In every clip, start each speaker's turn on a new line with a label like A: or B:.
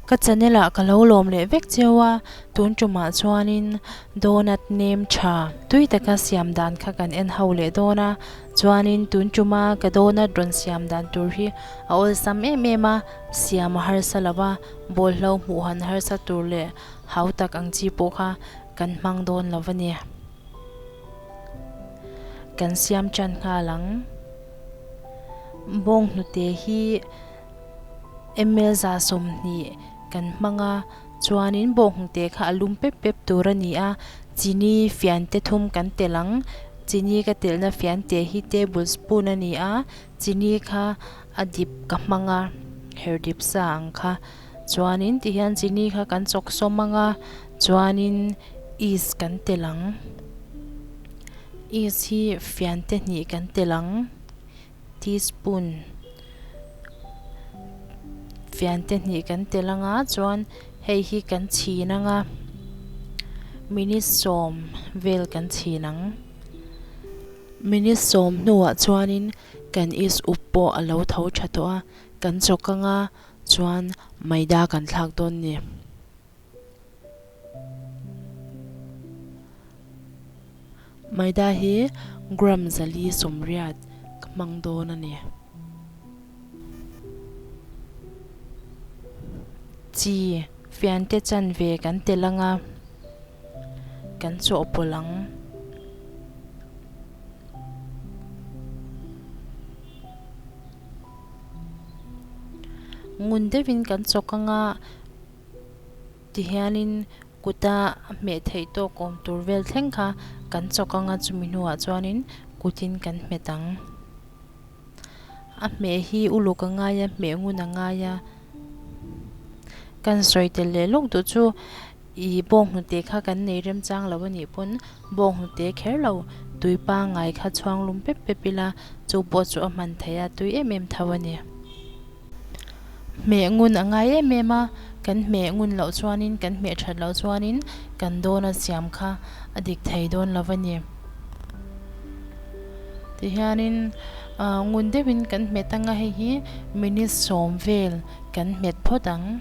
A: Ka channel ah ka lo lawm leh vek cheu a, tun tumah chuanin donut nem tha tui taka siam dan kha kan en ho leh dawn a, chuanin tun tuma ka donut rawn siam dan tur hi a awlsam em em a, siam a harsa lo a, bawlhlo hmuh han harsa tur leh Hau tak ang chi pawh kha kan hmang dawn lo va ni. Kan siam tan nghal ang. Bawng hnute hi ml za sawmhnih kan hmang a, chuanin bawng hnute kha a lum pep pep tur a ni a. Chini fiante thum kan telh ang. Chini ka telhna fiante hi table spoon a ni a. Chini kha a dip ka hmang a, her dip sa ang kha. chuanin ti hian chini kha kan chawk sawm ang a, chuanin yeast kan tel ang, yeast hi fian te hnih kan tel ang, teaspoon fian te hnih kan tel ang a, chuan hei hi kan chhin ang a, minute sawm vel kan chhin ang, minute sawm hnuah chuanin kan yeast uk pawh a lo tho tha tawh a, kan chawk ang a, Chuan Maida kan thlak dawn ni. Maida hi gram zali sawmriat ka hmang dawn a ni. Chi fiante chan ve kan tel ang a, kan chawhpawlh ang. Ngun deuhin kan chawk anga ti hianin kuta hmeh theih tawk awm tur vel thleng kha kan chawk anga chumi hnuah chuanin kutin kan hmet ang. A hmeh hi uluk a ngai a, hmeh ngun a ngai a. Kan sawi tel leh lawk duh chu I bawk hnute kha kan nei remchang lo a nih pawn, bawk hnute kher lo tui pangngai kha chhuanglum pep pep ila chu bawt chu a hman thei a, tui em em tho a ni. Hmeh ngun a ngai em em a, kan hmeh ngun loh chuanin, kan hmeh that loh chuanin kan dawna siam kha a dik thei dawn lo a ni. Tihianin ngun deuhin kan hmet anga hei hi minute sawm vel kan hmet phawt ang.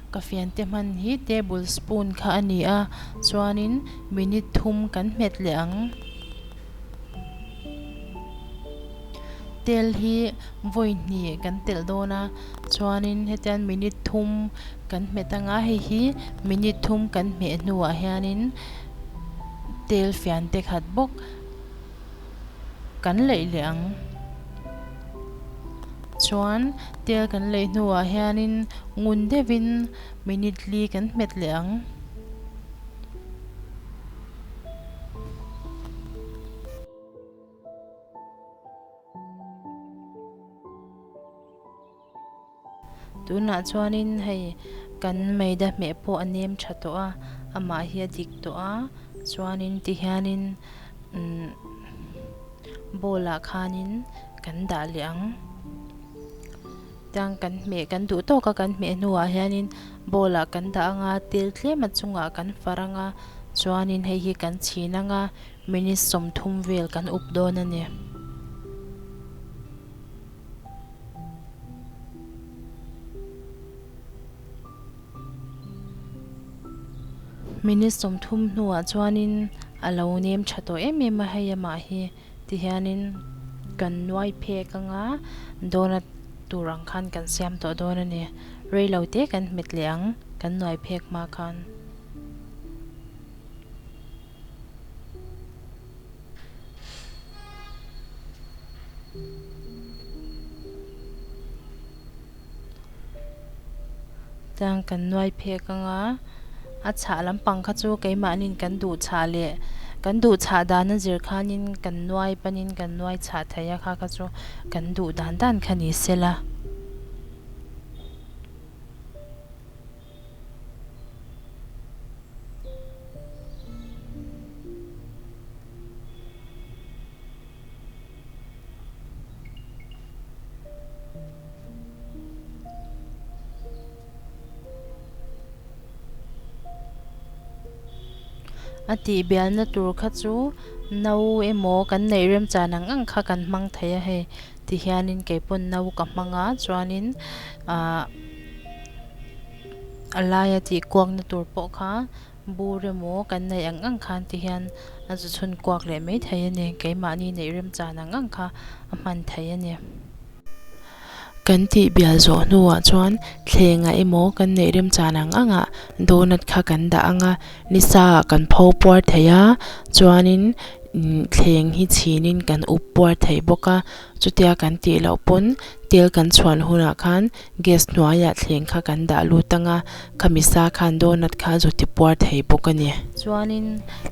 A: Ka fiante hman hi table spoon kha a ni a, chuanin minute thum kan hmet leh ang. Tel hi vawi hnih kan telh dawn a, chuanin hetian minute thum kan hmet ang a, hei hi minute thum kan hmeh hnuah hianin tel fiante khat bawk. kan leih leh ang chuan tel kan leih hnuah hianin ngun deuhin minute li kan hmet leh ang. Tunah chuanin hei kan Meida hmeh pawh a nem tha tawh a, amah hi a dik tawh a, chuanin tihianin umm ball-ah khanin kan dah leh ang. Tiang kan hmeh kan duh tawk a, kan hmeh hnuah hianin ball-ah kan dah ang a, tel tlem a chungah kan farh ang a, chuanin hei hi kan chhin ang a, minute sawmthum vel kan up dawn a ni. Minute sawmthum hnuah chuanin a lo nem tha tawh em em a, hei amah hi ti hianin kan nuai phek anga dawnna tur ang khan kan siam tawh dawn a ni. Reilo te kan hmet leh ang kan nuai phek hma khan. Chuan kan nuai phek anga a chhah lampang kha chu keimahni'n kan duh chhah leh kan duh chhah dana zir khanin kan nuai panin kan nuai chhah theih a kha kha chu kan duh dan dan kha ni sela. A tih bialna tur kha chu no emaw kan neih remchan ang ang kha kan hmang thei a hei tihianin keipawn no ka hmang a chuanin ahh-- A laia tih kuakna tur pawh kha bu remaw kan neih ang ang khan ti hian a zu chhun kuak leh mai thei a ni. Keimahni neih rem chan ang ang kha a hman thei a ni. Kan tih bial zawh hnuah chuan thlengah emaw kan neih rem chan ang angah donut kha kan dah ang a, ni sa ah kan pho puar thei a, chuanin thleng hi chhinin kan uk puar thei bawk a. Chutia kan tih loh pawn tel kan chhuan hunah khan Gas hnuaiah thleng kha kan dah lut a nga, khami sa khan donut kha zu ti puar thei bawk a ni. Chuanin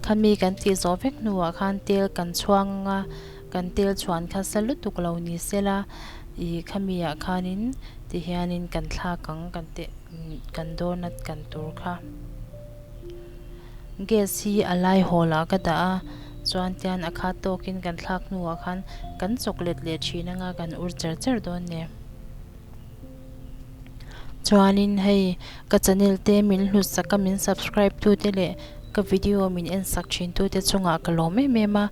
A: khami kan tih zawh vek hnuah khan tel kan chhuang a nga, kan tel chhuan kha sa lutuk lo ni sela i khamiah khanin tihianin kan thlak ang kan teh kan donut kan tur kha. Gas hi a lai hawl ah ka dah a, chuan tian a khat tawk in kan thlak hnu ah khan kan chawk let leh thin ang a, kan ur cher cher dawn ne. Chuan in hei ka channel te min hlut sak a, min subscribe tu te leh ka video min en sak thin tu te chung ah ka lawm em em a,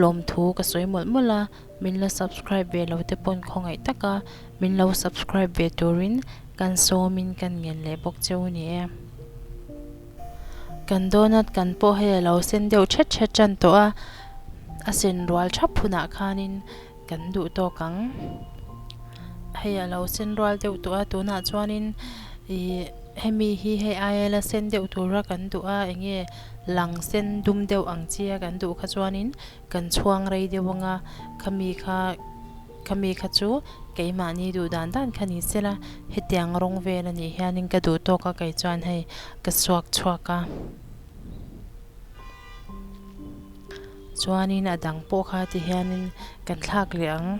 A: lawm thu ka sawi mawlh mawlh a. Min la subscribe ve lo te pawn khawngaih taka min lo subscribe ve turin kan sawmin kan ngen leh bawk che u ni e. Kan donut kan pawh hei a lo sen deuh ṭha ṭha ṭan tawh a, a sen rual ṭhap hunah khanin kan duh tawk ang. Hei a lo sen rual deuh tawh a, tunah chuanin ih hemi hi hei aia la sen deuh tura kan duh a, eng nge lang sen dum deuh ang chi a kan duh kha chuanin Kan chhuang rei deuh anga khami kha khami kha chu keimahni duh dan dan kha ni sela, hetiang rawng vel a nih hian in ka duh tawk a, kei chuan hei ka suak chhuak a. Chuan in a dang pawh kha ti hian in kan thlak leh ang.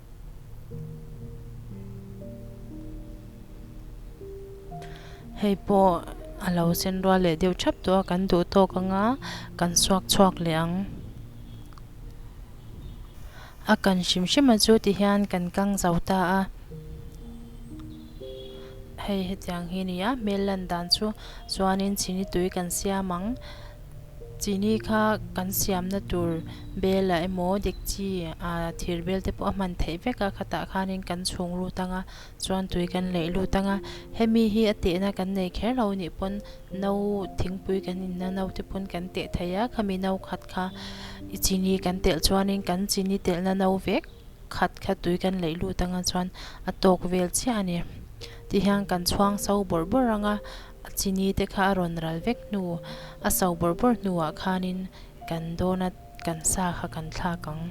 A: Hei pawh a lo sen rual leh deuh thap tawh a, kan duh tawk ang a, kan suak chhuak leh ang. A kan hrim hrim a chu tihian kan kang zo ta a. Hei hetiang hi a ni a, hmel lan dan chu chuan in chhini tui kan siam ang. Chini kha kan siamna tur bela emaw dekchi a thir bel te pawh a hman theih vek a, khatah khanin kan chhung lut ang a, chuan tui kan leih lut ang a, hemi hi a tehna kan nei kher lo nih pawn no thingpui kan inna no te pawn kan teh thei a, khami no khat kha i chini kan telh chuanin kan chini telhna no vek khat kha tui kan leih lut ang a chuan a tawk vel chiah a ni, tihian kan chhuang so bawrh bawrh ang a, A chini te kha a rawn ral vek hnu, a sau bawrh bawrh hnuah khanin kan dawn a, kan sa kha kan thlak ang.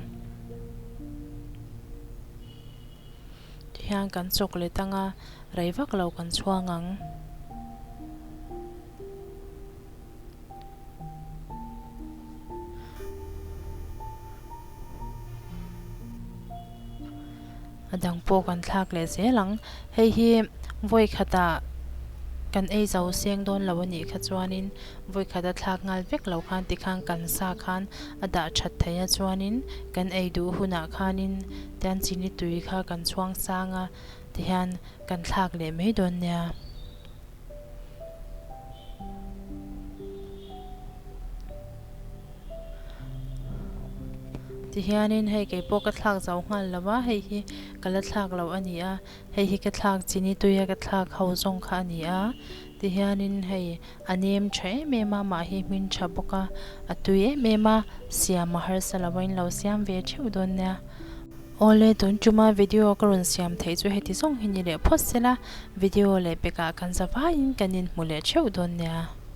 A: Tihian kan chawk let ang a, rei vak lo kan chhuang ang. A dang pawh kan thlak leh zel ang. Hei hi vawikhat ah kan ei zo seng dawn lo a nih kha chuanin vawikhat a thlak nghal vek lo khan ti khan kan sa khan a dah that thei a chuanin kan ei duh hun ah khanin tian chini tui kha kan chhuang sang a ti hian kan thlak leh mai dawn nia. Tihianin hei keipawh ka thlak zau nghal lo a, hei hi ka la thlak lo a ni a, hei hi ka thlak chini tui a ka thlak ho zawng kha a ni a. Tihianin hei a nem tha em em a, mah hi hmin tha bawk a, a tui em em a, siam a harsa lo a, in lo siam ve theuh dawn nia. Awle tun tuma video ka rawn siam theih chu heti zawng hi ni leh phawt sela video leh pekah kan zavaiin kan inhmu leh theuh dawn nia.